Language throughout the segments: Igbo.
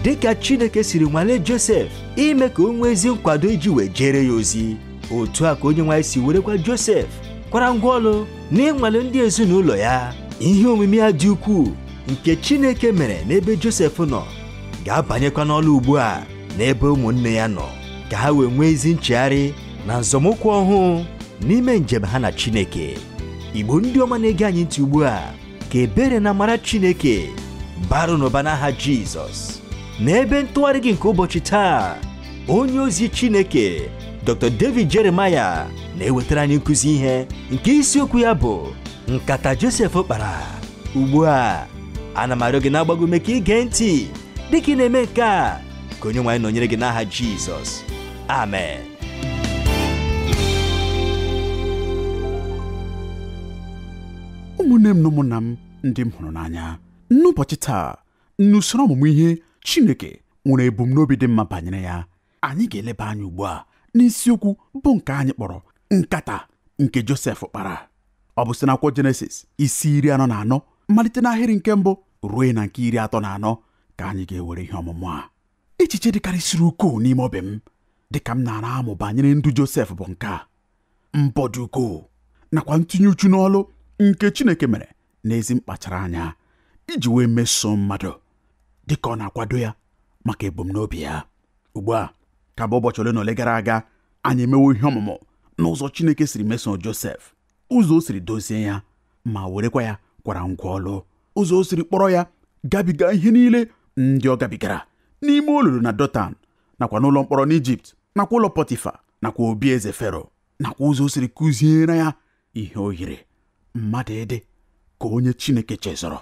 dị ka Chineke siri nwalee Josef ime ka o nwee ezi nkwado iji wee jeere ya ozi otu a ka Onyenwe anyị si werekwa Josef kwara ngwa ọlụ n'ịnwale ndị ezinụlọ ya ihe omume ya dị ukwuu nke Chineke mere n'ebe Josef nọ ga-abanyekwa n'ọlụ ugbu a n'ebe ụmụnne ya nọ ka ha wee nwee ezi nchegharị na nzọmụkwụ ọhụụ n'ime njem ha na Chineke igbo ndị ọma na-ege anyị ntị ugbu a ka ebere na amara chineke baara unu ụba n'aha jizọs n'ebe ntụgharị gị nke ụbọchị taa onye ozi chineke dr david jeremiah na-ewetara anyị nkụzi ihe nke isiokwu ya bụ nkata josef kpara ugbu a ana m arịọ gị na-agba gị ume ka i gee ntị dịka ị na-eme nke a ka onyenwe anyị nọnyere gị n'aha jizọs amen ụmụnne m na ụmụnna m ndị m hụrụ n'anya n'ụbọchị taa n'usoro ọmụmụ ihe Chineke nwere ebumnobi dị mma banyere ya anyị ga-eleba anya ugbu a n'isiokwu bụ nke anyị kpọrọ nkata nke Josef kpara ọ bụ site n'akwụkwọ Jenesis isi iri anọ na anọ malite n'ahịrị nke mbụ ruo na nke iri atọ na anọ ka anyị ga-ewere ihe ọmụmụ a echiche dịkarịsịrị ukwuu n'ime obi m dị ka m na-ara amụ banyere ndụ Josef bụ nke a mbọ dị ukwuu nakwa ntinye uchu n'ọlụ nke Chineke mere n'ezi mkpachara anya iji wee mesoo mmadụ dị ka ọ na-akwado ya maka ebumnobi ya ugbu a ka bụ ụbọchị ole na ole gara aga anyị emewo ihe ọmụmụ n'ụzọ Chineke siri mesoo Josef ụzọ o siri dozie ya ma werekwa ya kwara ngwa ọlụ ụzọ o siri kpọrọ ya gabiga ihe niile ndị ọ gabigara n'ime olulu na Dọtan nakwa n'ụlọ mkpọrọ n'Ijipt nakwa ụlọ Pọtifa nakwa obi eze Fero nakwa ụzọ o siri kụziere ya ihe o yiri mmadụ ịdị ka onye Chineke chezọrọ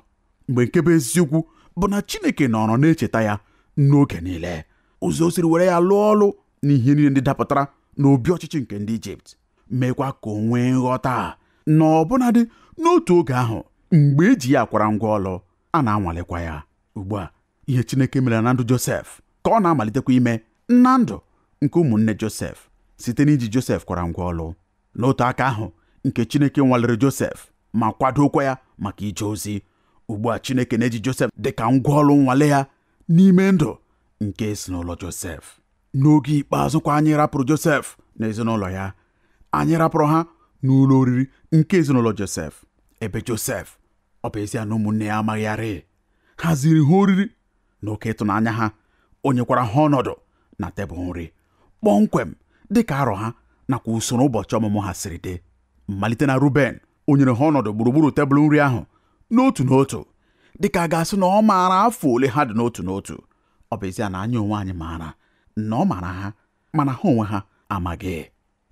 mgbe nke bụ eziokwu bụ na Chineke nọrọ na-echeta ya n'oge niile ụzọ o siri were ya lụọ ọlụ n'ihe niile ndị dapụtara n'obi ọchịchị nke ndị Ijipt meekwa ka o nwee nghọta na ọbụnadị n'otu oge ahụ mgbe e ji ya akwara ngwa ọlụ a na-anwalekwa ya ugbu a ihe Chineke mere na ndụ Josef ka ọ na-amalitekwa ime na ndụ nke ụmụnne Josef site n'iji Josef kwara ngwa ọlụ n'otu aka ahụ nke Chineke nwalere Josef ma kwadokwa ya maka ije ozi ugbu a Chineke na-eji Josef dị ka ngwa ọlụ nnwale ya n'ime ndụ nke ezinụlọ Josef n'oge ikpeazụ kwa anyị rapụrụ Josef na ezinụlọ ya anyị rapụrụ ha n'ụlọ oriri nke ezinụlọ Josef ebe Josef ọ bụ ezie na ụmụnne ya amaghị ya rị haziri ha oriri n'oke ịtụnanya ha o nyekwara ha ọnọdụ na tebụl nri kpọmkwem dị ka arọ ha nakwa usoro ụbọchị ọmụmụ ha siri dị malite na Ruben o nyere ha ọnọdụ gburugburu tebụl nri ahụ n'otu n'otu dịka a ga-asị na ọ maara afọ ole ha dị n'otu n'otu ọ bụ ezie na anyị onwe anyị maara na ọ maara ha mana ha onwe ha amaghị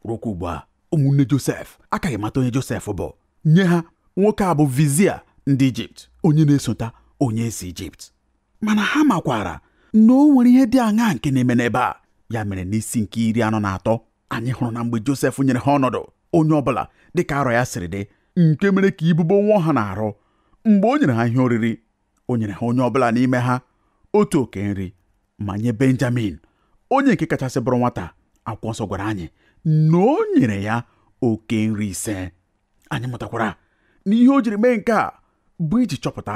rukwa ugbu a ụmụnne Josef akaghị mata onye Josef bụ nye ha nwoke a bụ vizier ndị Ijipt onye na-esota onye eze Ijipt mana ha makwara na o nwere ihe dị aṅaa nke na-eme n'ebe a ya mere n'isi nke iri anọ na atọ anyị hụrụ na mgbe Josef nyere ha ọnọdụ onye ọbụla dịka arọ ya siri dị nke mere ka ibubo nwụọ ha n'arụ mgbe o nyere ha ihe oriri o nyere ha onye ọbụla n'ime ha otu oke nri ma nye benjamin onye nke kachasị bụrụ nwata akwụkwọ nsọ gwara anyị na o nyere ya oke nri ise anyị mụtakwara na ihe o jiri mee nke a bụ iji chọpụta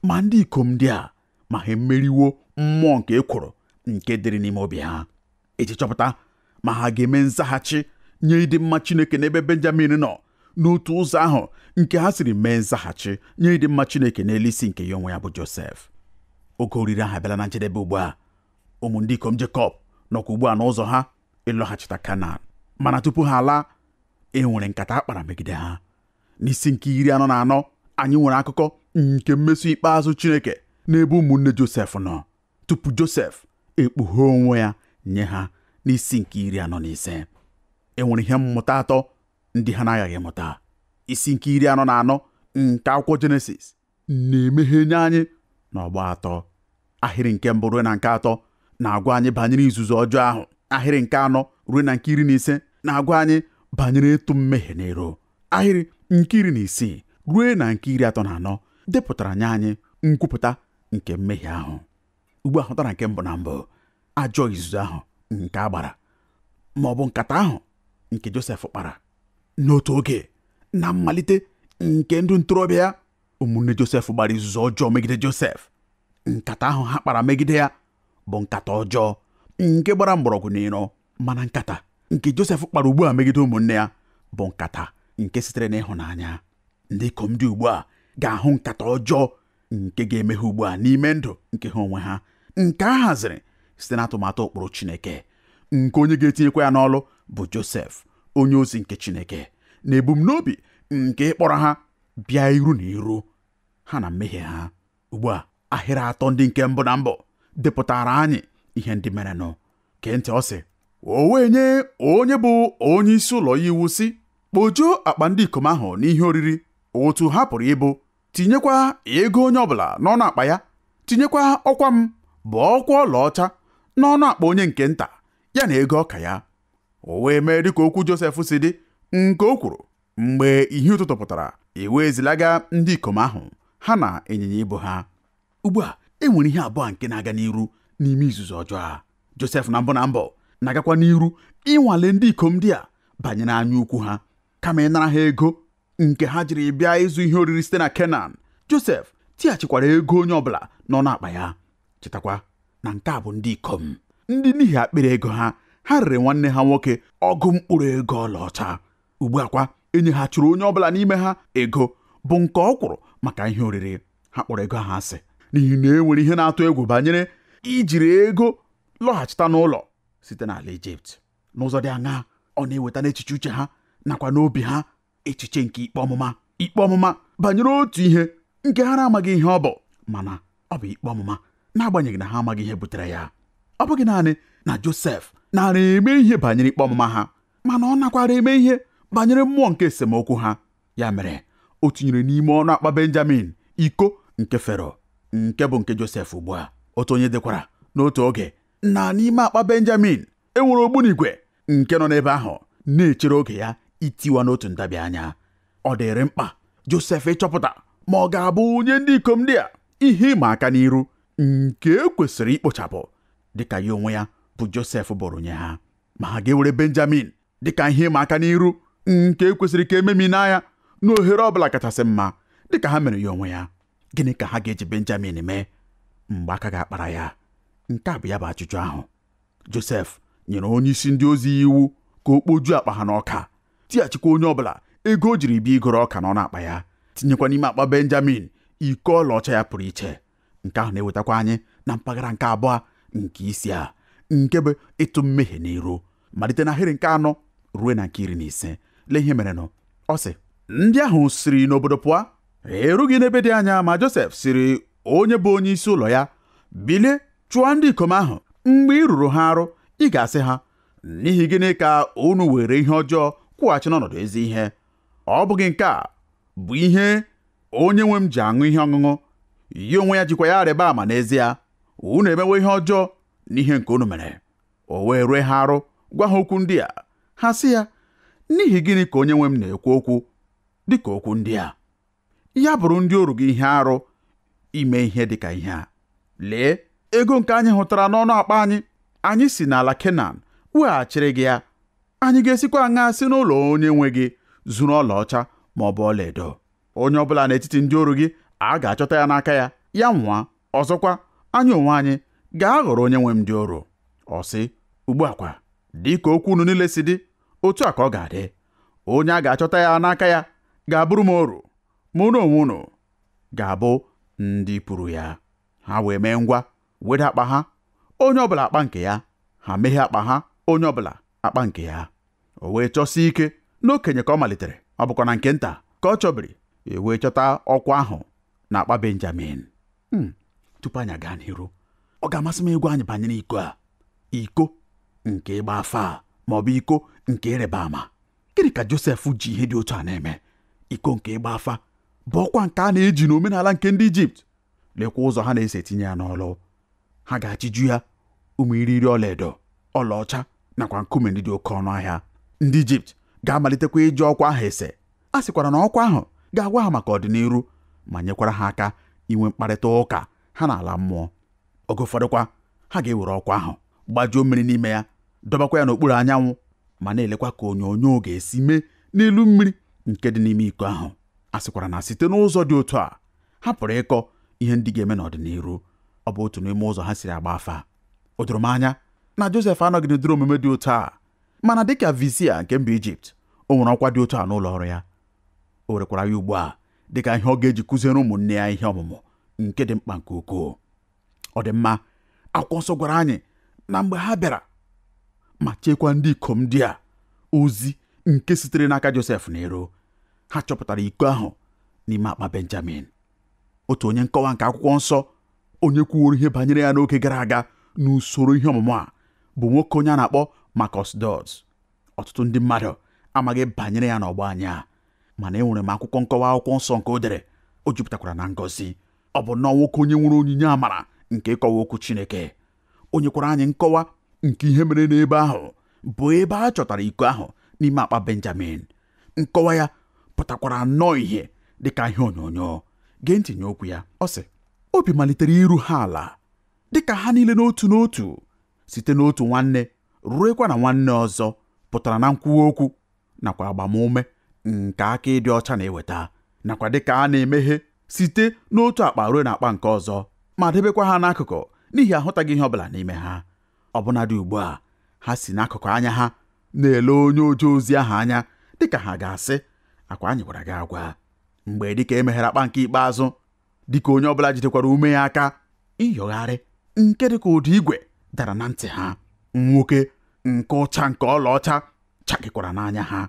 ma ndị ikom ndị a ma ha emeriwo mmụọ nke ekworo nke dịrị n'ime obi ha iji chọpụta ma ha ga-eme nzaghachi nye ịdị mma Chineke n'ebe Benjamin nọ n'otu ụzọ ahụ nke ha siri mee nzaghachi nye ịdị mma Chineke n'elu isi nke ya onwe ya bụ Josef oge oriri ahụ abịala na njedebe ugbu a ụmụ ndị ikom Jekọb nọkwa ugbu a n'ụzọ ha ịlọghachita Kanan mana tupu ha alaa e nwere nkata a kpara megide ha n'isi nke iri anọ na anọ anyị nwere akụkọ nke mmeso ikpeazụ Chineke n'ebe ụmụnne Josef nọ tupu Josef ekpughe onwe ya nye ha n'isi nke iri anọ na ise e nwere ihe mmụta atọ ndị ha na-aghaghị mụta isi nke iri anọ na anọ nke akwụkwọ Jenesis na-emeghe nye anyị n'ọgba atọ ahịrị nke mbụ ruo na nke atọ na-agwa anyị banyere izuzu ọjọọ ahụ ahịrị nke anọ ruo na nke iri na ise na-agwa anyị banyere ịtụ mmehie n'iru ahịrị nke iri na isii ruo na nke iri atọ na anọ depụtara nye anyị nkwupụta nke mmehie ahụ ugbu a hụtara nke mbụ na mbụ ajọ izuzu ahụ nke a gbara ma ọ bụ nkata ahụ nke Josef kpara n'otu oge na mmalite nke ndụ ntorobịa ya ụmụnne Josef gbara izuzu ọjọọ megide Josef nkata ahụ ha kpara megide ya bụ nkata ọjọọ nke gbara mgbọrọgwụ n'iro mana nkata nke Josef kpara ugbu a megide ụmụnne ya bụ nkata nke sitere n'ịhụnanya ndị ikom dị ugbu a ga-ahụ nkata ọjọọ nke ga-eme ha ugbu a n'ime ndụ nke ha onwe ha nke a haziri site n'atụmatụ ụkpụrụ Chineke nke onye ga-etinyekwa ya n'ọlụ bụ Josef onye ozi nke Chineke n'ebumnobi nke ịkpọrọ ha bịa iru na iru ha na mmehie ha ugbu a ahịrị atọ ndị nke mbụ na mbụ depụtara anyị ihe ndị merenụ gee ntị ọ sị o wee nye onye bụ onye isi ụlọ ya iwu sị kpojuo akpa ndị ikom ahụ n'ihe oriri otu ha pụrụ ibu tinyekwa ego onye ọbụla n'ọnụ akpa ya tinyekwa ọkwa m bụ ọkwa ọlaọcha n'ọnụ akpa onye nke nta ya na ego ọka ya o wee mee dịka okwu Josef si dị nke o kwuru mgbe ihe ụtụtụ pụtara e wee zilaga ndị ikom ahụ ha na ịnyịnya ibu ha ugbu a e nwere ihe abụọ nke na-aga n'iru n'ime izuzu ọjọọ a Josef na mbụ na mbụ na-agakwa n'iru ịnwale ndị ikom ndị a banyere anya ukwu ha kama ịnara ha ego nke ha jiri bịa ịzụ ihe oriri site na Kenan Josef tighachikwara ego onye ọbụla n'ọnụ akpa ya chetakwa na nke a bụ ndị ikom ndị n'ihi akpịrị ego ha ha rere nwanne ha nwoke ọgụ mkpụrụ ego ọlaọcha ugbu a kwa e nyeghachiri onye ọbụla n'ime ha ego bụ nke ọ kwụrụ maka ihe oriri ha kpọrọ ego ahụ asị n'ihi na e nwere ihe na-atụ egwu banyere ijiri ego lọghachita n'ụlọ site n'ala Ijipt n'ụzọ dị aṅaa ọ na-eweta n'echiche uche ha nakwa n'obi ha echiche nke ikpe ọmụma ikpe ọmụma banyere otu ihe nke ha na-amaghị ihe ọ bụ mana ọ bụ ikpe ọmụma n'agbanyeghị na ha amaghị ihe butere ya ọ bụghị naanị na Josef nara eme ihe banyere ikpe ọmụma ha mana ọ nakwara eme ihe banyere mmụọ nke esemokwu ha ya mere o tinyere n'ime ọnụ akpa benjamin iko nke fero nke bụ nke josef ugbu a otu onye dekwara n'otu oge na n'ime akpa benjamin e nwere ogbunigwe nke nọ n'ebe ahụ na-echere oge ya itiwa n'otu ntabi anya ọ dịrị mkpa josef ịchọpụta ma ọ ga-abụ nye ndị ikom ndị a ihe ịma aka n'iru nke e kwesịrị ikpochapụ dịka ya onwe ya bụ Josef bụrụ nye ha ma ha ga-ewere Benjamin dịka ihe ịma aka n'iru nke e kwesịrị ka e memina ya n'ohere ọ bụla kachasị mma dịka ha mere ya onwe ya gịnị ka ha ga-eji Benjamin mee mgbe aka ga-akpara ya nke a bụ ya bụ ajụjụ ahụ Josef nyere onye isi ndị ozi ya iwu ka o kpojuo akpa ha n'ọka tighachikwa onye ọbụla ego o jiri bịa igoro ọka n'ọnụ akpa ya tinyekwa n'ime akpa Benjamin iko ọlaọcha ya pụrụ iche nke ahụ na-ewetakwa anyị na mpaghara nke abụọ nke isi a nke bụ ịtụ mmehie n'iru malite n'ahịrị nke anọ ruo na nke iri na ise lee ihe merenụ ọ sị ndị ahụ siri n'obodo pụọ erughị n'ebe dị anya ma Josef sịrị onye bụ onye isi ụlọ ya bilie chụọ ndị ikom ahụ mgbe i ruru ha arụ ị ga-asị ha n'ihi gịnị ka unu were ihe ọjọọ kwụghachi n'ọnọdụ ezi ihe ọ bụghị nke a bụ ihe onye nwe m ji aṅụ ihe ọṅụṅụ ya onwe ya jikwa ya arịba ama n'ezie unu emewo ihe ọjọọ n'ihe nke unu mere o wee rue ha arụ gwa ha okwu ndị a ha sị ya n'ihi gịnị ka onye nwe m na-ekwu okwu dị ka okwu ndị a ya bụrụ ndị oru gị ihe arụ ime ihe dị ka ihe a lee ego nke anyị hụtara n'ọnụ akpa anyị anyị si n'ala Kenan weghachiri gị ya anyị ga-esikwa aṅa si n'ụlọ onye nwe gị zuru ọlaọcha ma ọ bụ ọlaedo onye ọ bụla n'etiti ndị oru gị a ga-achọta ya n'aka ya ya nwụa ọzọkwa anyị onwe anyị ga-aghọrọ onye nwe m ndị oru ọ sị ugbu a kwa dị ka okwu unu niile si dị otu a ka ọ ga-adị onye a ga-achọta ya n'aka ya ga-abụrụ m oru ma unu onwe unu ga-abụ ndị pụrụ ya ha wee mee ngwa weda akpa ha onye ọbụla akpa nke ya ha meghee akpa ha onye ọbụla akpa nke ya o wee chọsie ike n'okenye ka ọ malitere ọ bụkwa na nke nta ka ọ chọbiri e wee chọta ọkwa ahụ na akpa benjamin hmm, tupu anyị gaa n'iru ọ ga-amasị m ịgwa anyị banyere iko a iko nke ịgba afa a ma ọ bụ iko nke ịrịba ama gịnị ka josef ji ihe dị otu a na-eme iko nke ịgba afa bụ ọkwa nke a na-eji n'omenala nke ndị ijipt lekwa ụzọ ha na-esi etinye ya n'ọlụ ha ga-achịju ya ụmụ irighiri ọlaedo ọlaọcha nakwa nkume ndị dị oke ọnụ ahịa ndị ijipt ga-amalitekwa iji ọkwa ahụ ese a sịkwara na ọkwa ahụ ga-agwa ha maka ọdịniru ma nyekwara ha aka inwe mkparịta ụka ha na ala mmụọ oge ụfọdụkwa ha ga-ewere ọkwa ahụ gbajuo mmiri n'ime ya dọbakwa ya n'okpuru anyanwụ ma na-elekwa ka onyonyo ga-esi mee n'elu mmiri nke dị n'ime iko ahụ a sịkwara na site n'ụzọ dị otu a ha pụrụ ịkọ ihe ndị ga-eme n'ọdịniru ọ bụ otu n'ime ụzọ ha siri agba afa o doro m anya na Josef anọghị n'ụdịrị omume dị otu a mana dịka vizia nke mba Ijipt o nwere ọkwa dị otu a n'ụlọ ọrụ ya o werekwara ya ugbu a dịka ihe ọ ga-eji kụziere ụmụnne ya ihe ọmụmụ nke dị mkpa nke ukwuu ọ dị mma akwụkwọ nsọ gwara anyị na mgbe ha bịara ma cheekwa ndị ikom ndị a ozi nke sitere n'aka Josef n'iru ha chọpụtara iko ahụ n'ime akpa Benjamin otu onye nkọwa nke akwụkwọ nsọ onye kwuworo ihe banyere ya n'oge gara aga n'usoro ihe ọmụmụ a bụ nwoke onye a na-akpọ Marcus Dods ọtụtụ ndị mmadụ amaghị banyere ya n'ọgbọ anyị a mana enwere m akwụkwọ nkọwa akwụkwọ nsọ nke o dere o jupụtakwara na ngọzi ọ bụ nnọọ nwoke onye nwere onyinye amara nke ịkọwa okwu Chineke o nyekwara anyị nkọwa nke ihe mere n'ebe ahụ bụ ebe a chọtara iko ahụ n'ime akpa Benjamin nkọwa ya pụtakwara nnọọ ihe dị ka ihe onyonyo gee ntị nye okwu ya ọ sị obi malitere iru ha ala dịka ha niile n'otu n'otu site n'otu nwanne ruekwa na nwanne ọzọ pụtara na nkwuwa okwu nakwa agbamume nke aka ịdị ọcha na-eweta nakwa dịka a na-emeghe site n'otu akpa ruo n'akpa nke ọzọ ma debekwa ha n'akụkụ n'ihi ahụtaghị ihe ọbụla n'ime ha ọbụnadị ugbu a ha si n'akụkụ anya ha na-ele onye oje ozi ahụ anya dịka ha ga-asị akwa anyị gwara gị agwa mgbe dịka emeghere akpa nke ikpeazụ dịka onye ọbụla jidekwara ume ya aka ịyọgharị nke dịka ụdị igwe dara na ntị ha nwuke nke ụcha nke ọlaọcha chakịkwara n'anya ha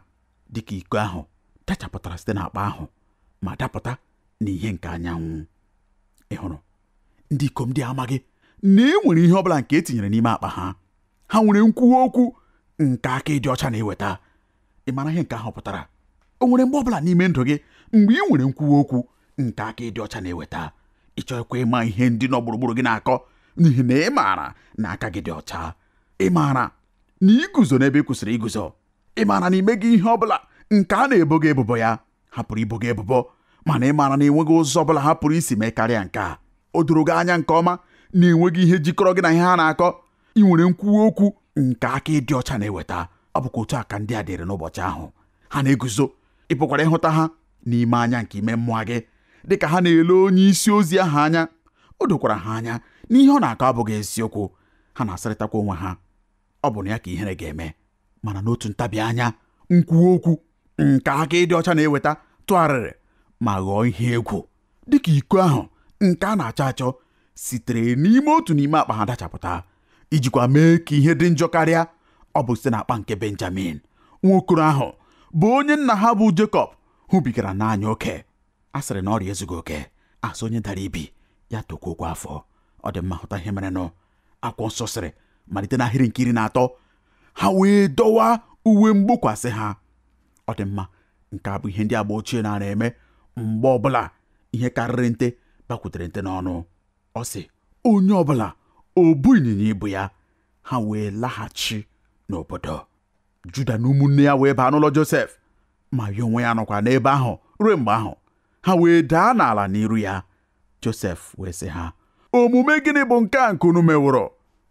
dịka iko ahụ dachapụtara site n'akpa ahụ ma dapụta n'ihe nke anyanwụ ị hụrụ ndị ikom ndị a amaghị na e nwere ihe ọbụla nke etinyere n'ime akpa ha ha nwere nkwuwa okwu nke aka ịdị ọcha na-eweta ị mara ihe nke ahụ pụtara o nwere mgbe ọbụla n'ime ndụ gị mgbe ị nwere nkwuwa okwu nke aka ịdị ọcha na-eweta ị chọghịkwa ịma ihe ndị nọ gburugburu gị na-akọ n'ihi na ị maara na aka gị dị ọcha ị maara na i guzo n'ebe i kwesịrị iguzo ị maara na i meghị ihe ọbụla nke a na-ebo gị ebubo ya ha pụrụ ibo gị ebubo mana ị maara na enweghị ụzọ ọbụla ha pụrụ isi mee karịa nke a o doro gị anya nke ọma na enweghị ihe jikọrọ gị na ihe ha na-akọ ị nwere nkwuwa okwu nke aka ịdị ọcha na-eweta ọ bụkwa otu a ka ndị a dịrị n'ụbọchị ahụ ha na-eguzo ị pụkwara ịhụta ha n'ime anya nke ime mmụọ gị dị ka ha na-ele onye isi ozi ahụ anya o dokwara ha anya na ihe ọ na-akọ abụghị eziokwu ha na-asịrịtakwa onwe ha ọ bụ na ya ka ihere ga-eme mana n'otu ntabi anya nkwuwa okwu nke aka ịdị ọcha na-eweta tụgharịrị ma ghọọ ihe egwu dịka iko ahụ nke a na-achọ achọ sitere n'ime otu n'ime akpa ha dachapụta ijikwa mee ka ihe dị njọ karịa ọ bụ site n'akpa nke Benjamin nwokoro ahụ bụ onye nna ha bụ Jekọb hụbigara n'anya oke a sịrị na ọrịa ezughị oke a sị onye dara ibi ya tokwuokwa afọ ọ dị mma hụta ihe merenụ akwụkwọ nsọ sịrị malite n'ahịrị nke iri na atọ ha wee dọwaa uwe mgbokwasị ha ọ dị mma nke a bụ ihe ndị agba ochie na-ara eme mgbe ọbụla ihe karịrị nte bakwutere nte n'ọnụ ọ sị onye ọbụla o bu ịnyịnya ibu ya ha wee laghachi n'obodo Juda na ụmụnne ya wee baa n'ụlọ Josef ma ya onwe ya nọkwa n'ebe ahụ ruo mgbe ahụ ha wee daa n'ala n'iru ya Josef wee sị ha omume gịnị bụ nke a nke unu meworo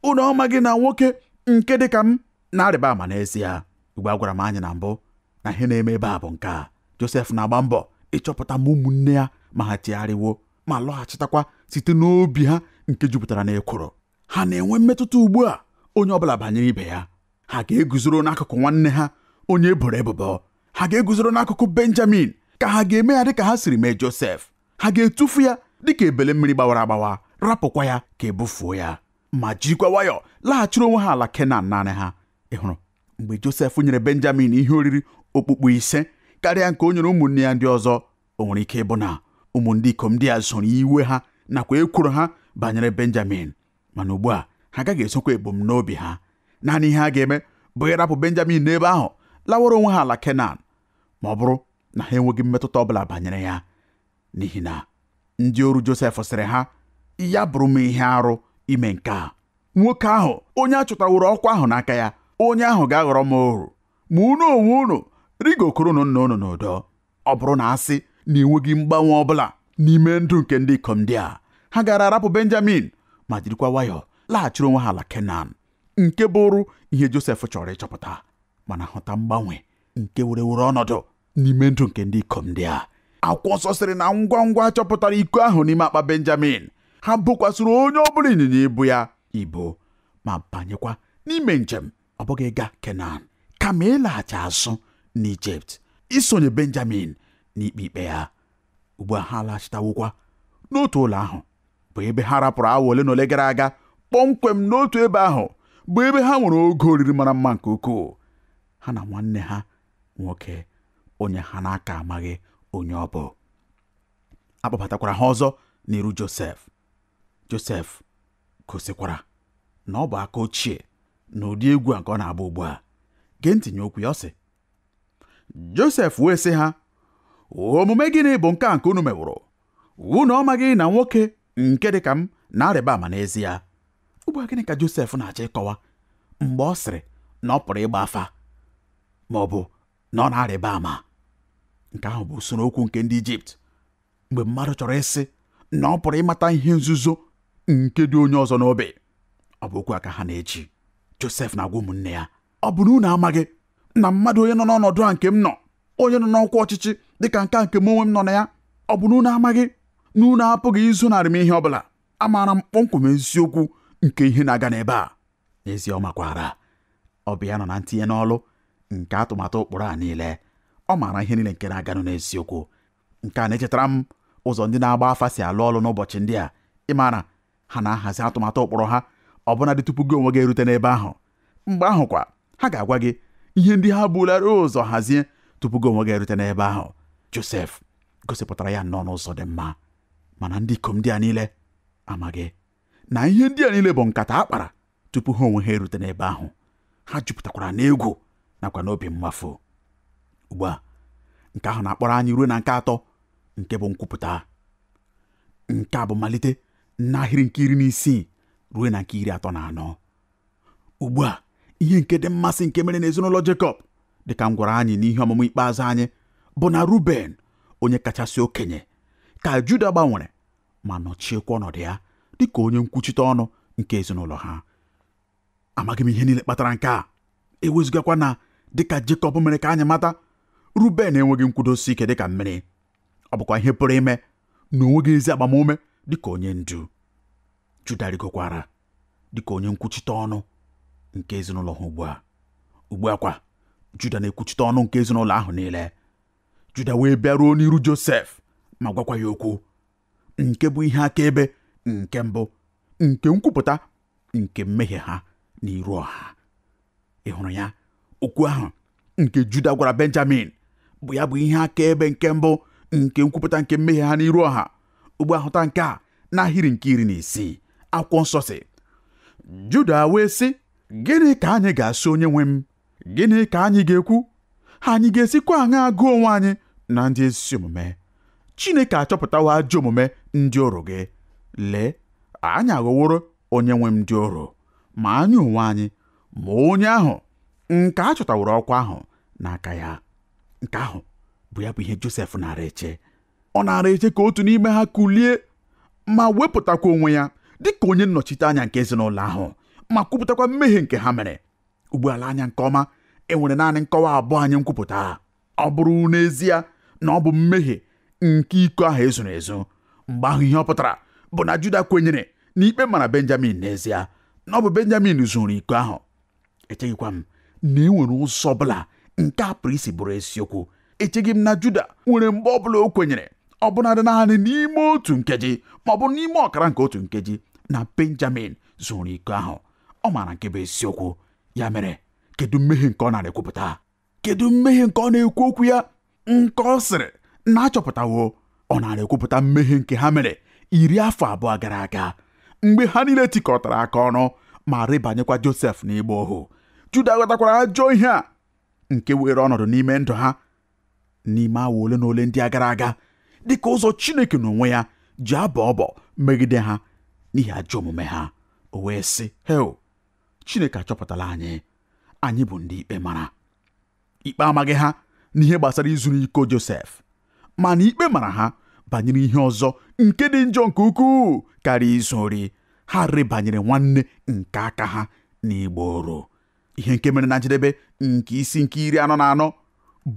unu amaghị na nwoke nke dị ka m na-arịba ama n'ezie ugbu a agwara m anyị na mbụ na ihe na-eme ebe a bụ nke a Josef na-agba mbọ ịchọpụta ma ụmụnne ya ma ha chegharịwo ma lọghachitakwa site n'obi ha nke jupụtara n'ekworo ha na-enwe mmetụta ugbu a onye ọbụla banyere ibe ya ha ga-eguzoro n'akụkụ nwanne ha onye e boro ebubo ha ga-eguzoro n'akụkụ benjamin ka ha ga-eme ya dịka ha siri mee josef ha ga-etufu ya dịka ebele mmiri gbawara agbawa rapụkwa ya ka e bufuo ya ma jirikwa nwayọọ laghachiri onwe ha ala kenan naanị ha ị hụrụ mgbe josef nyere benjamin ihe oriri okpukpu ise karịa nke o nyere ụmụnne ya ndị ọzọ o nwere ike ịbụ na ụmụ ndị ikom ndị a zoro iwe ha nakwa ekworo ha banyere benjamin mana ugbu a ha agaghị ezokwa ebumnobi ha naanị ihe ha ga-eme bụ ịrapụ benjamin n'ebe ahụ lawara onwe ha ala kenan ma ọ bụrụ na ha enweghị mmetụta ọ bụla banyere ya n'ihi na ndị oru josef sịrị ha ya bụrụ m ihe arụ ime nke a nwoke ahụ onye a chụtaworo ọkwa ahụ n'aka ya onye ahụ ga-aghọrọ m oru ma unu onwe unu rịgokwurunu nna unu n'udo ọ bụrụ na a sị na e nweghị mgbanwe ọ bụla n'ime ndụ nke ndị ikom ndị a ha gaara arapụ benjamin ma jirikwa nwayọọ laghachiri onwe ha ala kenan nke bụrụ ihe josef chọrọ ịchọpụta mana hụta mgbanwe nke were were ọnọdụ n'ime ndụ nke ndị ikom ndị a akwụkwọ nsọ sịrị na ngwa ngwa chọpụtara iko ahụ n'ime akpa benjamin ha bokwasịrị onye ọ bụla ịnyịnya ibu ya ibu ma banyekwa n'ime njem ọ bụghị ịga kenan kama ịlaghachi azụ n'ijipt isonye benjamin n'ikpe ikpe ya ugbu a ha laghachitawokwa n'otu ụlọ ahụ bụ ebe ha rapụrụ awa ole na ole gara aga kpọmkwem n'otu ebe ahụ bụ ebe ha nwere oge oriri mara mma nke ukwuu ha na nwanne ha nwoke onye ha na-aka amaghị onye ọ bụ a kpọbatakwara ha ọzọ n'iru josef Josef gosikwara na ọ bụ aka ochie na ụdị egwu a nke ọ na-agba ugbu a gee ntị nye okwu ya ọ sị Josef wee sị ha omume gịnị bụ nke a nke unu meworo unu ọ maghị na nwoke nke dị ka m na-arịba ama n'ezie ugbu a gịnị ka Josef na-achọ ịkọwa mgbe ọ sịrị na ọ pụrụ ịgba afa ma ọ bụ na ọ na-arịba ama nke ahụ bụ usoro okwu nke ndị Ijipt mgbe mmadụ chọrọ ịsị na ọ pụrụ ịmata ihe nzuzo nke dị onye ọzọ n'obi ọ bụ okwu a ka ha na-eji Josef na-agwa ụmụnne ya ọ bụ na unu amaghị na mmadụ onye nọ n'ọnọdụ a nke m nọ onye nọ n'ọkwa ọchịchị dịka nke a nke m onwe m nọ na ya ọ bụ na unu amaghị na unu apụghị izonarị m ihe ọ bụla amaara m kpọmkwem eziokwu nke ihe na-aga n'ebe a n'ezie ọ makwara ọ bụ ya nọ na ntinye n'ọlụ nke atụmatụ ụkpụrụ a niile ọ maara ihe niile nke na-aganụ n'eziokwu nke a na-echetara m ụzọ ndị na-agba afa si alụ ọlụ n'ụbọchị ndị a ị maara ha na-ahazi atụmatụ ụkpụrụ ha ọbụnadị tupu gị onwe gị erute n'ebe ahụ mgbe ahụ kwa ha ga-agwa gị ihe ndị ha bulara ụzọ hazie tupu gị onwe gị erute n'ebe ahụ Josef gosipụtara ya nnọọ n'ụzọ dị mma mana ndị ikom ndị a niile amaghị na ihe ndị a niile bụ nkata a kpara tupu ha onwe ha erute n'ebe ahụ ha jupụtakwara n'egwu nakwa n'obi mmafụ ugbu a nke ahụ na-akpọrọ anyị ruo na nke atọ nke bụ nkwupụta nke a bụ malite n'ahịrị nke iri na isii ruo na nke iri atọ na anọ ugbu a ihe nke dị mmasị nke mere n'ezinụlọ Jekọb dịka m gwara anyị n'ihe ọmụmụ ikpeazụ anyị bụ na Ruben onye kachasị okenye ka Juda gbanwere ma nọchiekwa ọnọdụ ya dị ka onye nkwuchite ọnụ nke ezinụlọ ha amaghị m ihe niile kpatara nke a e wezugakwa na dịka Jekọb mere ka anyị mata Ruben enweghị nkwudosi ike dịka mmiri ọ bụkwa ihe pụrụ ime na o nweghị ezi agbamume dịka onye ndu Juda rigokwara dịka onye nkwuchite ọnụ nke ezinụlọ ha ugbu a ugbu a kwa Juda na-ekwuchite ọnụ nke ezinụlọ ahụ niile Juda wee bịaruo n'iru Josef ma gwakwa ya okwu nke bụ ihe akaebe nke mbụ nke nkwupụta nke mmehie ha n'iru ọha ị hụrụ ya okwu ahụ nke Juda gwara Benjamin bụ ya bụ ihe akaebe nke mbụ nke nkwupụta nke mmehie ha n'iru ọha ugbu a hụta nke a n'ahịrị nke iri na isii akwụkwọ nsọ sị Juda wee sị gịnị ka anyị ga-asị onye nwe m gịnị ka anyị ga-ekwu anyị ga-esikwa aṅa agụ onwe anyị na ndị ezi omume Chineke achọpụtawo ajọ omume ndị oru gị lee anyị aghọworo onye nwe m ndị oru ma anyị onwe anyị ma onye ahụ nke a chọtaworo ọkwa ahụ n'aka ya nke ahụ bụ ya bụ ihe Josef nara eche ọ nara eche ka otu n'ime ha kulie ma wepụtakwa onwe ya dịka onye nnọchite anya nke ezinụlọ ahụ ma kwupụtakwa mmehie nke ha mere ugbu a lee anya nke ọma e nwere naanị nkọwa abụọ nye nkwupụta a ọ bụrụ n'ezie na ọ bụ mmehie nke iko ahụ e zuru ezu mgbe ahụ ihe ọ pụtara bụ na Juda kwenyere na ikpe mara Benjamin n'ezie na ọ bụ Benjamin zuru iko ahụ echeghịkwa m na e nwere ụzọ ọbụla nke a pụrụ isi bụrụ eziokwu echeghị m na Juda nwere mgbe ọbụla o kwenyere ọ bụnadị naanị n'ime otu nkeji ma ọ bụ n'ime ọkara nke otu nkeji na Benjamin zuru iko ahụ ọ maara nke bụ eziokwu ya mere kedu mmehie nke ọ narị ekwupụta kedu mmehie nke ọ na-ekwu okwu ya nke ọ sịrị na a chọpụtawo ọ narị ekwupụta mmehie nke ha mere iri afọ abụọ gara aga mgbe ha niile tikọtara aka ọnụ ma rebanyekwa Josef n'ịgba ohu Juda ghọtakwara ajọ ihe a nke weere ọnọdụ n'ime ndụ ha n'ime awa ole na ole ndị a gara aga dị ka ụzọ Chineke n'onwe ya ji abọ ọbọ megide ha n'ihi ajọ omume ha o wee sị heo Chineke achọpụtala anyị anyị bụ ndị ikpe mara ikpe amaghị ha n'ihe gbasara izuru iko Josef mana ikpe mara ha banyere ihe ọzọ nke dị njọ nke ukwuu karịa izu ori ha rebanyere nwanne nke aka ha n'ịgba oru ihe nke mere na njedebe nke isi nke iri anọ na anọ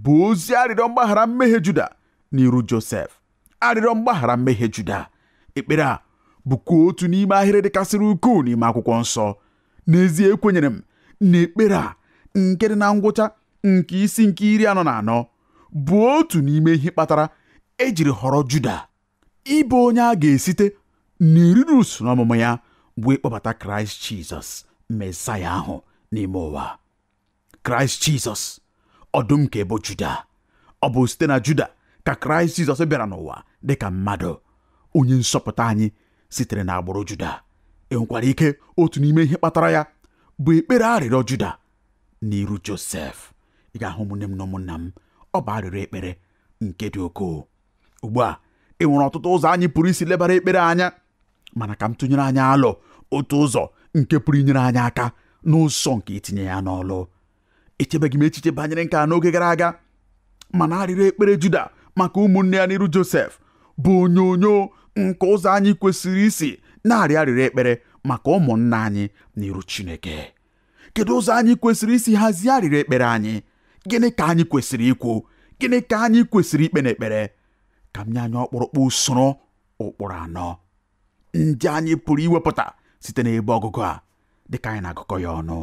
bụ ozi arịrịọ mgbaghara mmehie Juda n'iru Josef arịrịọ mgbaghara mmehie Juda ekpere a bụkwa otu n'ime ahịrị dịkasịrị ukwuu n'ime akwụkwọ nsọ n'ezie ekwenyere m na ekpere a nke dị na ngwụcha nke isi nke iri anọ na anọ bụ otu n'ime ihe kpatara ejiri họrọ Juda ịbụ onye a ga-esite n'eriri usoro ọmụmụ ya bụ ịkpọbata kraịst jizọs mesaya ahụ n'ime ụwa kraịst jizọs ọdụm nke ebo juda ọ bụ site na juda ka kraịst jizọs bịara n'ụwa dị ka mmadụ onye nzọpụta anyị sitere n'agbụrụ juda e nwekwara ike otu n'ime ihe kpatara ya bụ ekpere arịrịọ juda n'iru josef ị ga-ahụ ụmụnne m na ụmụnna m ọ bụ arịrịọ ekpere nke dị ukwuu ugbu a e nwere ọtụtụ ụzọ anyị pụrụ isi lebara ekpere anya mana ka m tụnyere anyị alo otu ụzọ nke pụrụ inyere anyị aka n'ụzọ nke itinye ya n'ọlụ echebeghị m echiche banyere nke a n'oge gara aga mana arịrịọ ekpere Juda maka ụmụnne ya n'iru Josef bụ onyonyo nke ụzọ anyị kwesịrị isi na-arịọ arịrịọ ekpere maka ụmụnna anyị n'iru Chineke kedu ụzọ anyị kwesịrị isi hazie arịrịọ ekpere anyị gịnị ka anyị kwesịrị ikwu gịnị ka anyị kwesịrị ikpe n'ekpere ka m nye anyị ọkpụrụkpụ usoro ụkpụrụ anọ ndị anyị pụrụ iwepụta site n'ebe ọgụgụ a dịka anyị na-agụkọ ya ọnụ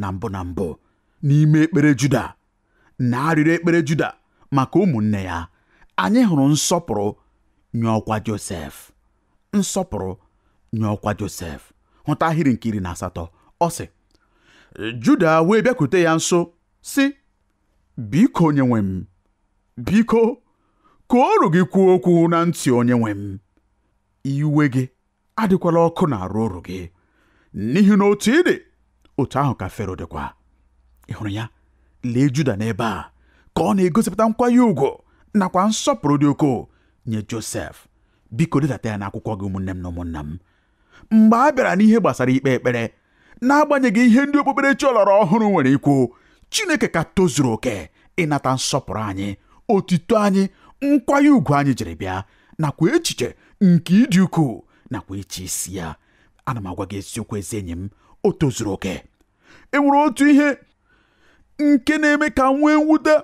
na mbụ na mbụ n'ime ekpere Juda n'arịrịọ ekpere Juda maka ụmụnne ya anyị hụrụ nsọpụrụ nye ọkwa Josef nsọpụrụ nye ọkwa Josef hụta ahịrị nke iri na asatọ ọ sị Juda wee bịakute ya nso sị biko onyenwe m biko ka oru gị kwuo okwu na ntị onyenwe m iwe gị adịkwala ọkụ n'arụ oru gị n'ihi na otu ị dị otu ahụ ka fero dịkwa ị hụrụ ya lee juda n'ebe a ka ọ na-egosipụta nkwanye ugwu nakwa nsọpụrụ dị ukwuu nye josef biko dedata ya n'akwụkwọ gị ụmụnne m na ụmụnna m mgbe a bịara n'ihe gbasara ikpe ekpere n'agbanyeghị ihe ndị okpukperechi ọlọrọ ọhụrụ nwere ikwu Chineke ka tozuru oke ịnata nsọpụrụ anyị otito anyị nkwanye ugwu anyị jiri bịa nakwa echiche nke ịdị ukwuu nakwa ịchị isi ya ana m agwa gị eziokwu ezi enyi m o tozuru oke e nwere otu ihe nke na-eme ka m nwee mwute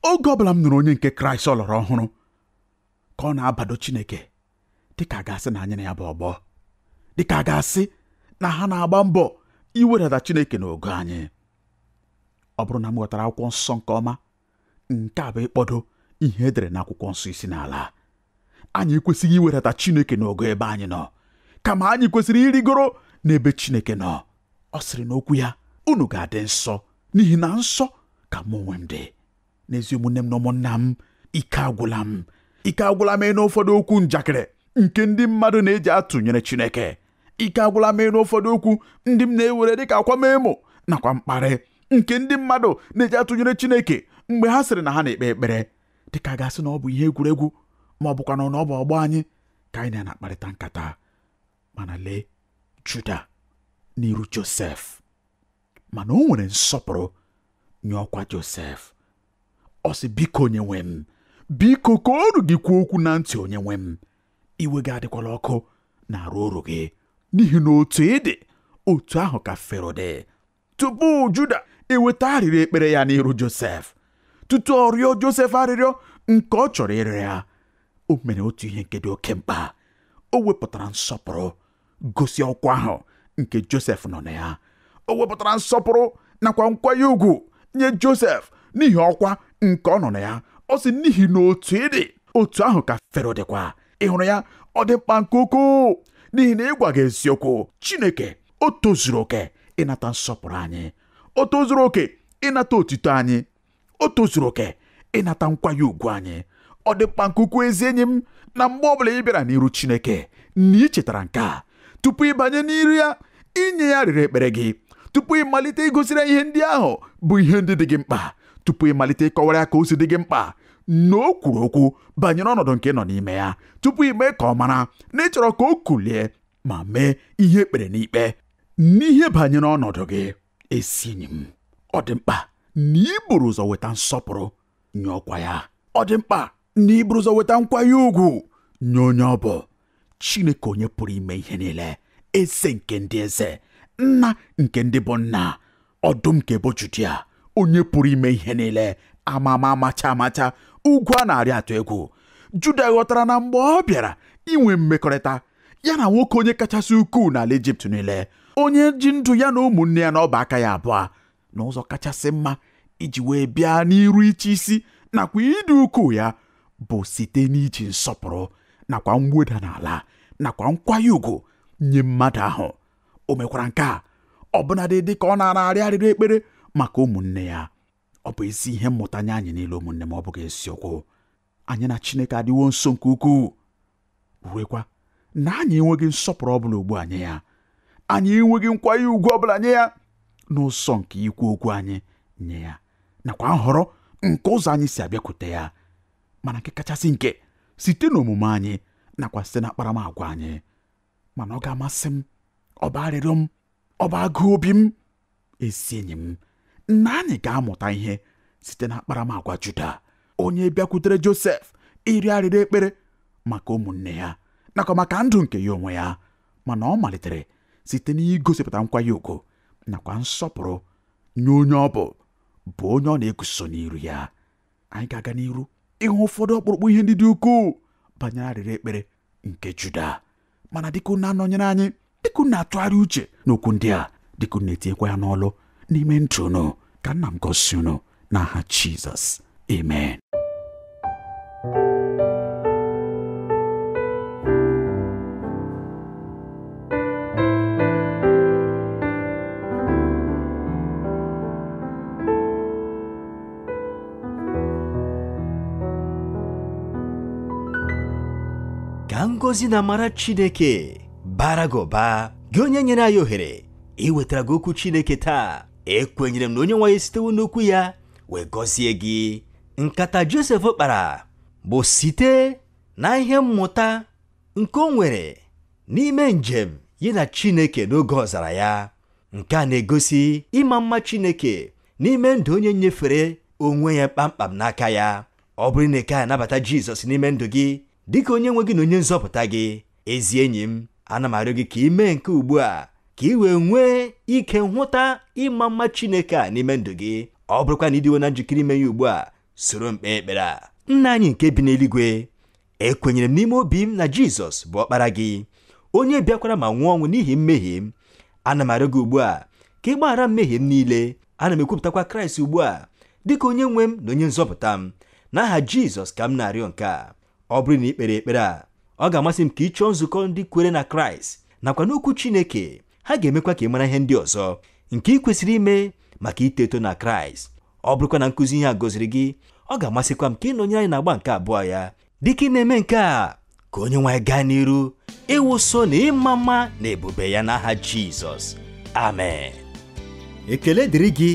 oge ọbụla m nụrụ onye nke kraịst ọlọrọ ọhụrụ ka ọ na-abado chineke dịka a ga-asị na anyị na ya bụ ọgbọ dịka a ga-asị na ha na-agba mbọ iwedata Chineke n'ogo anyị ọ bụrụ na m ghọtara akwụkwọ nsọ nke ọma nke a bụ ịkpọdo ihe e dere n'akwụkwọ nsọ isi n'ala anyị ekwesịghị iwedata Chineke n'ogo ebe anyị nọ kama anyị kwesịrị ịrịgoro n'ebe Chineke nọ ọ sịrị n'okwu ya unu ga-adị nsọ n'ihi na nsọ ka mụ onwe m dị n'ezi ụmụnne m na ụmụnna m ike agwụla m ike agwụla m ịnụ ụfọdụ okwu njakịrị nke ndị mmadụ na-eji atụnyere Chineke ike agwụla m ịnụ ụfọdụ okwu ndị m na-ewere dịka akwamemo nakwa mkparị nke ndị mmadụ na-eji atụnyere Chineke mgbe ha sịrị na ha na-ekpe ekpere dịka a ga-asị na ọ bụ ihe egwuregwu ma ọ bụkwanụ na ọ bụ ọgbọ anyị ka anyị na ya na-akparịta nkata mana lee Juda n'iru Josef mana o nwere nsọpụrụ nye ọkwa Josef ọ sị biko onye nwe m biko ka oru gị kwuo okwu na ntị onye nwe m iwe gị adịkwala ọkụ n'arụ oru gị n'ihi na otu ị dị otu ahụ ka fero dị tupu juda eweta arịrịọ ekpere ya n'iru josef tutu ọ rịọ josef arịrịọ nke ọ chọrọ ịrịọ ya o mere otu ihe nke dị oke mkpa o wepụtara nsọpụrụ gosi ọkwa ahụ nke Josef nọ na ya o wepụtara nsọpụrụ nakwa nkwanye ugwu nye Josef n'ihi ọkwa nke ọ nọ na ya ọ sị n'ihi na otu ị dị otu ahụ ka Fero dịkwa ị hụrụ ya ọ dị mkpa nke ukwuu n'ihi na ịgwa gị eziokwu Chineke o tozuru oke ịnata nsọpụrụ anyị o tozuru oke ịnata otito anyị o tozuru oke ịnata nkwanye ugwu anyị ọ dị mkpa nke ukwuu ezi enyi m na mgbe ọ bụla ị bịara n'iru Chineke na ị chetara nke a tupu ị banye n'iru ya inye ya arịrịọ ekpere gị tupu ị malite igosiri ihe ndị ahụ bụ ihe ndị dị gị mkpa tupu ị malite ịkọwara ya ka o si dị gị mkpa na o kwuru okwu banyere ọnọdụ nke ị nọ n'ime ya tupu i mee ka ọ mara na ị chọrọ ka o kulie ma mee ihe ekpere n'ikpe n'ihe banyere ọnọdụ gị ezi enyi m ọ dị mkpa na i buru ụzọ weta nsọpụrụ nye ọkwa ya ọ dị mkpa na i buru ụzọ weta nkwanye ugwu nye onye ọ bụ Chineke onye pụrụ ime ihe niile eze nke ndị eze nna nke ndị bụ nna ọdụm nke ebo Judia onye pụrụ ime ihe niile amama amacha amacha ugwu a na-arị atụ egwu Juda ghọtara na mgbe ọ bịara inwe mmekọrịta ya na nwoke onye kachasị ukwuu n'ala Ijipt niile onye ji ndụ ya na ụmụnne ya na ọba aka ya abụọ n'ụzọ kachasị mma iji wee bịa n'iru ịchị isi nakwa ịdị ukwuu ya bụ site n'iji nsọpụrụ nakwa mweda n'ala nakwa nkwanye ugwu nye mmadụ ahụ o mekwara nke a ọbụnadị dị ka ọ na-arịọ arịrịọ ekpere maka ụmụnne ya ọ bụ ezi ihe mmụta nye anyị niile ụmụnne m ọ bụghị eziokwu anyị na Chineke adịwo nso nke ukwuu ruekwa na anyị enweghị nsọpụrụ ọbụla ugbu a nye ya anyị enweghị nkwanye ugwu ọbụla nye ya n'ụzọ nke ikwu okwu anyị nye ya nakwa nhọrọ nke ụzọ anyị si abịakwute ya mana nke kachasị nke site n'omume anyị nakwa site na akparamagwa anyị mana ọ ga-amasị m ọ bụ arịrịọ m ọ bụ agụụ obi m ezi enyi m na anyị ga-amụta ihe site na akparamagwa Juda onye bịakwutere Josef ịrịọ arịrịọ ekpere maka ụmụnne ya nakwa maka ndụ nke ya onwe ya mana ọ malitere site n'igosipụta nkwanye ugwu nakwa nsọpụrụ nye onye ọ bụ bụ onye ọ na-eguzo n'iru ya anyị ga-aga n'iru ịhụ ụfọdụ ọkpụrụkpụ ihe ndị dị ukwuu banyere arịrịọ ekpere nke Juda mana dịka unu na-anọnyere anyị dịka unu na-atụgharị uche n'okwu ndị a dịka unu na-etinyekwa ya n'ọlụ n'ime ndụ unu ka nna m gọzie unu n'aha Jizọs amen ka ngọzi na amara chineke bara gị ụba gị onye nyere anyị ohere iwetara gị okwu chineke taa ekwenyere m na onye nwe anyị sitewo n'okwu ya wee gọzie gị nkata josef kpara bụ site na ihe mmụta nke o nwere n'ime njem ya na chineke n'oge ọzara ya nke a na-egosi ịma mma Chineke n'ime ndụ onye nyefere onwe ya kpamkpam n'aka ya ọ bụrụ na ị kaghị anabata Jizọs n'ime ndụ gị dịka onye nwe gị na onye nzọpụta gị ezi enyi m ana m arịọ gị ka ị mee nke ugbu a ka ị wee nwee ike nhụta ịma mma Chineke a n'ime ndụ gị ọ bụrụkwa na ị dịwo na njikere ime ya ugbu a soro m kpee ekpere a nna anyị nke bi n'eluigwe ekwenyere m n'ime obi m na jizọs bụ ọkpara gị onye bịakwara ma nwụọ ọnwụ n'ihi mmehie m ana m arịọ gị ugbu a ka ị gbaghara mmehie m niile ana m ekwupụtakwa kraịst ugbu a dịka onye nwe m na onye nzọpụta m n'aha jizọs ka m na-arịọ nke a ọ bụrụ na ị kpere ekpere a ọ ga-amasị m ka ị chọọ nzukọ ndị kwere na kraịst nakwa n'okwu chineke ha ga-emekwa ka ị mara ihe ndị ọzọ nke ị kwesịrị ime maka ito eto na kraịst ọ bụrụkwa na nkụzi ihe a gọziri gị ọ ga-amasịkwa m ka ị nọnyere anyị n'agba nke abụọ ya dịka ị na-eme nke a ka onye nwe anyị gaa n'iru ịwụso na ịma mma na ebube ya n'aha jizọs amen ekele dịrị gị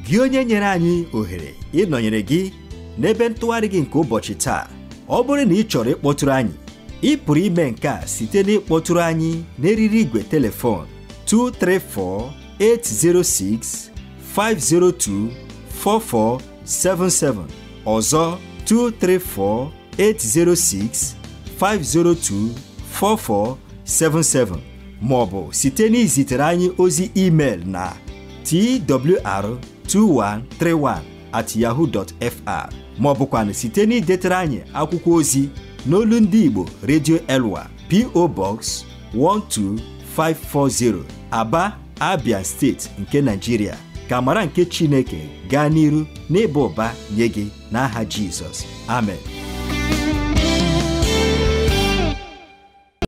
gị onye nyere anyị ohere ịnọnyere gị n'ebe ntụgharị gị nke ụbọchị taa ọ bụrụ na ị chọrọ ịkpọtụrụ anyị ị pụrụ ime nke a site n'ịkpọtụrụ anyị n'eriri igwe telefon 234-806-502-4477 ọzọ 234-806-502-4477 ma ọ bụ site n'izitere anyị ozi email na twr 2131 at yahoo dot fr ma ọ bụkwanụ site n'idetara anyị akwụkwọ ozi n'olu ndị Igbo Radio Elwa PO Box 12540 Aba Abia steeti nke Nigeria ka amara nke Chineke gaa n'iru n'ịba ụba nye gị n'aha Jizọs amen